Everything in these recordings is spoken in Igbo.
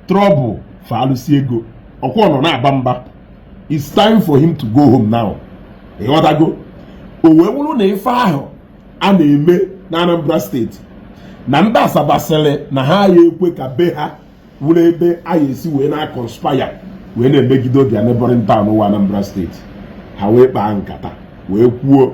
trouble for alụsị ego ọkwa ọ nọ na-aba mba it's time for him to go home now ịghọtago o wee wụrụ na ife ahụ a na-eme na Anambra steeti na ndị Asaba sịrị na ha ya ekwe ka be ha wụrụ ebe a ya esi wee na-akọnspaya wee na-emegide their neighboring town wụ Anambra steeti ha wee kpaa nkata wee kwuo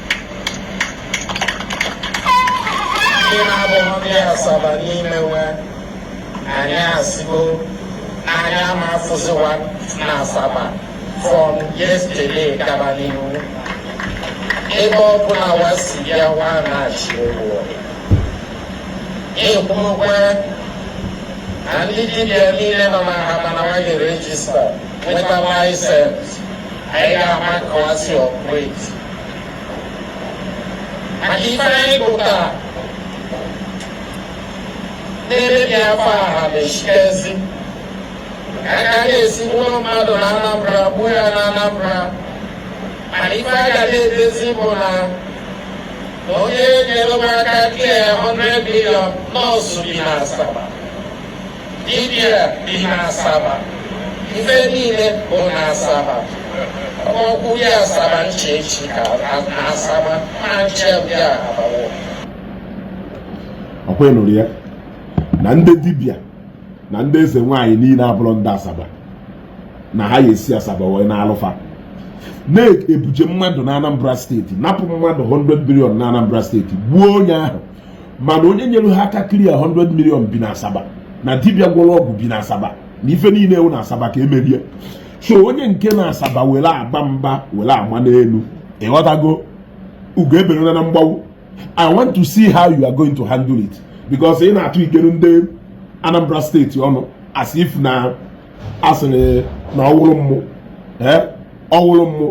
ndị na-abụrọ ndị asaba n'ime we anyị asịgo anyị ama afụzi wa na asaba from yesterday gaba n'ihu ebe ọ bụla wa si bịa wa na-achị ụgwọ ekwurukwe na ndị dibịa niile nọ na Ahaba na wa ga-erejista nweta laịsensị anyị ga-ama ka wa si operate maka ife anyị pụtara na-emebi afa Ahaba na-asị kezi ka a ga na-esi buru mmadụ na Anambra gbuo ya na Anambra mana ife a ga na-edezi bụ na na onye nyere wa aka clear 100 million nọọsụ bi na Asaba Dibia bi n'Asaba, ife niile bụ n'Asaba. Ọkpọkwu ya Asaba nche echi ka n'Asaba ma nche bịa abawo. Ọkwa ị nụrụ ya na ndị dibia na ndị eze nwaanyị niile abụrọ ndị Asaba na ha ya esi Asaba wee na-alụ fa na-ebuje mmadụ na Anambra steeti napụ mmadụ 100 billion na Anambra steeti gbuo onye ahụ mana onye nyere ha aka clear 100 million bi na asaba na dibia gwọrọ ọgwụ bi na asaba na ife niile wụ na asaba ka e mere ye so onye nke na asaba were aba mba were ama n'elu ịghọtago ugo eberela na mgbawu i want to see how you are going to handle it because ị na-atụ ikere ndị anambra steeti ọnụ as if na a sịrị na ọ wụrụ mmụ ọ wụrụ mmụ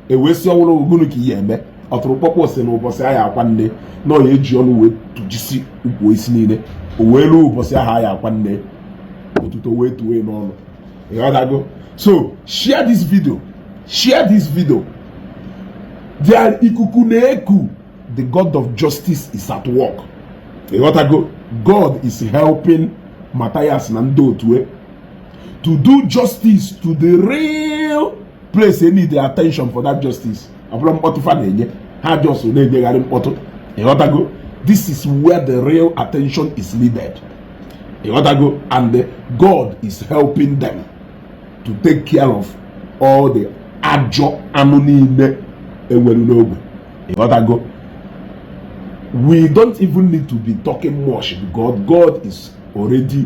e wee sị ọ wụrụ gụnụ ka ị ya eme ọtụrụkpọkpọ sị na ụbọchị a ya akwa nne na ọ ya eji ọnụ wee tụjisi ukwu osisi niile o wee ruo ụbọchị ahụ a ya akwa nne otuto wee too e n'ọnụ ịghọtago so share this video share this video there ikuku na-eku the god of justice is at work ịghọtago god is helping Matthias na ndị otu e to do justice to the real place e need attention for that justice ọ bụrọ mkpọtụ fa na-enye ha just na-enyegharị mkpọtụ ịghọtago this is where the real attention is needed ịghọtago and God is helping them to take care of all the ajọ anụ niile e nwere n'ogbe ịghọtago we don't even need to be talking much because God is already